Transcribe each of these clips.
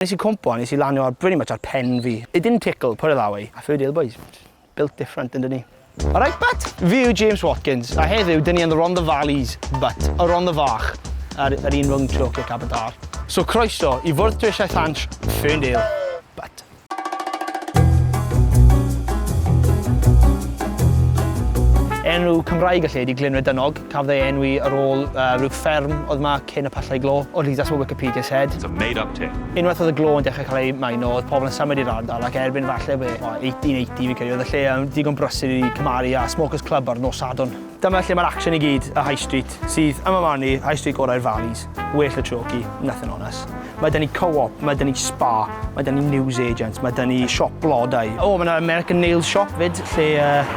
Nes i cwmpo a nes i lanio ar pretty much ar pen fi. It didn't tickle, put it that way. A Ferdy Hill Boys, built different yndyn ni. Alright but, fi yw James Watkins, a heddiw dyn ni yn the Rhondda Valleys, but y Rhondda Fach, ar yr un rhwng Troc ac Aberdâr. So croeso i fwrdd Dwysau Ffant, Ferndale, but. Enw Cymraeg y lle ydi Glynredynog. Cafodd ei enwi ar ôl rhyw fferm oedd yma cyn y Pyllau Glo, or at least that's what Wikipedia said. It's a made up tale. Unwaith oedd y glo yn dechrau cael ei maeno, oedd pobl yn symud i'r ardal ac erbyn falle be, 1880 fi'n credu, oedd y lle yn ddigon brysur i cymharu â Smokers Club ar nos Sadwrn. Dyma lle mae'r action i gyd, y High Street, sydd, yn fy marn i, High Street gorau'r Valleys. Well the chalky, nothing on us. Mae 'da ni Co-op, mae 'da ni Spa, mae 'da ni News Agents, mae 'da ni Siop Blodau. O, mae 'na American Nails Shop 'fyd, lle uh,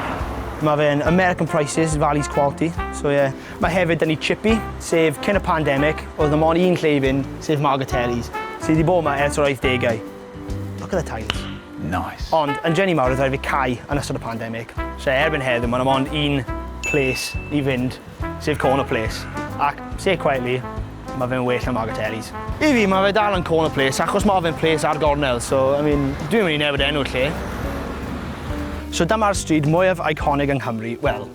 mae fe'n American Prices, Valley's Quality. So ie. Yeah. Mae hefyd 'da ni Chippy, sef cyn y pandemic, oedd na mon un lle i fynd, sef Margatelli's, sydd wedi bod yma ers yr 80au. Look at the tiles. Nice. Ond yn Jenny Mawr, oedd rhaid fi cau yn ystod y pandemic. So erbyn heddiw, mae yna mond un place i fynd sef corner place, ac, say it quietly, ma fe'n well na Margatelli's. I fi, ma fe dal yn corner place achos ma fe'n place ar gornel, so, I mean, dwi'm yn mynd i newid enw'r lle. So dyma'r stryd mwyaf iconic yng Nghymru, wel,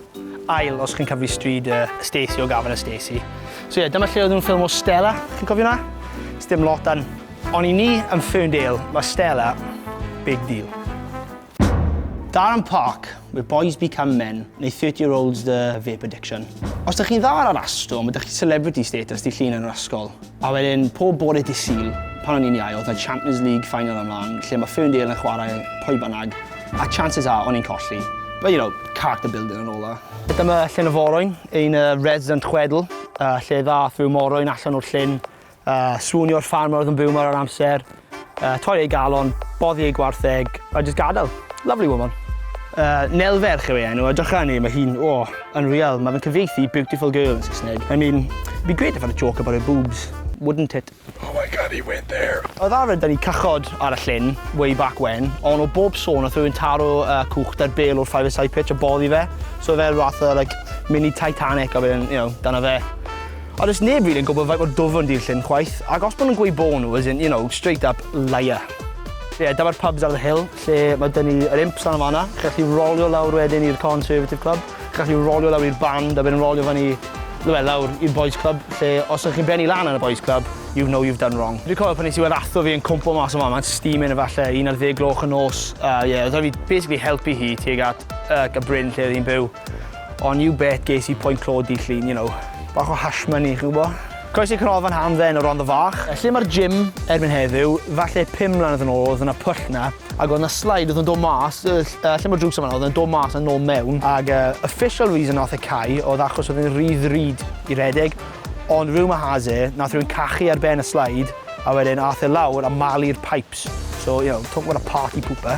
ail os chi'n cyfri stryd yy Stacey o Gavin a Stacey. So ie, dyma lle oedd nhw'n ffilmo Stella, chi'n cofio na? Sdim lot dan. Ond i ni yn Ferndale, ma Stella, big deal. Darren Park, where boys become men, neu Thirty Year Olds The Vape Addiction. Os dych chi'n dda ar yr astro, mae dych chi celebrity status di llun yn yr ysgol. A wedyn, pob bore dydd Sul, pan o'n i'n iau, oedd na Champions League final ymlaen, lle mae Ferndale yn chwarae pwy bynnag, a chances are, o'n i'n colli. But you know, character building and all that. Dyma llyn y Forwyn, ein resident chwedl, lle ddath rhyw morwyn allan o'r llyn, Uh, swnio'r ffarmwr oedd yn byw mor ar amser, uh, torri ei galon, boddi ei gwartheg, a just gadael. Lovely woman. Uh, Nel Ferch yw ei enw, a dycha ni, mae hi'n, o, oh, unreal. Mae fe'n cyfeithi beautiful girl yn Saesneg. I mean, it'd be great if I had a joke about her boobs, wouldn't it? Oh my god, he went there. Oedd arfer da ni cychod ar y llyn, way back when, ond o bob sôn oedd rhywun taro uh, cwch da'r bel o'r 5 side pitch a boddi fe. So fe rhath o, like, mini Titanic a fe, you know, dyna fe. Ond does neb rili yn gwybod faint mor dwfwn di'r llyn chwaith, ac os maen nhw'n gweud bo nhw, as in, you know, straight up liar. Ie, yeah, dyma'r pubs ar y hill, lle mae dyn ni yr imps lan yn fanna. Chi'n gallu rolio lawr wedyn i'r Conservative Club. Chi'n gallu rolio lawr i'r band a wedyn rolio fan i well, lawr i'r Boys Club, lle os ydych chi'n benni lan yn y Boys Club, you know you've done wrong. Dwi'n cofio pan nes i weld atho fi yn cwmpo mas o fan, mae'n steaming efallai, un ar ddeg gloch y nos. A uh, ie, yeah, oedd fi basically helpu hi tuag at uh, y bryn lle oedd hi'n byw. Ond you bet ges i point clo dydd Llun, you know. Bach o hash money, chi'n gwbo? Croeso i Canolfan Hamdden o Rondda Fach. Lle mae'r gym erbyn heddiw, falle pum mlynedd yn ôl oedd yna pwll na, ac oedd yna slide oedd yn dod mas, yy yy lle mae'r drws yn fan'na, oedd yn dod mas a nôl mewn, ac yy official reason nath e cau oedd achos oedd e'n rhy ddrud i redeg, ond rumour has it, nath rhywun cachu ar ben y slide, a wedyn ath e lawr a malu'r pipes, so you know, talk about a party pooper.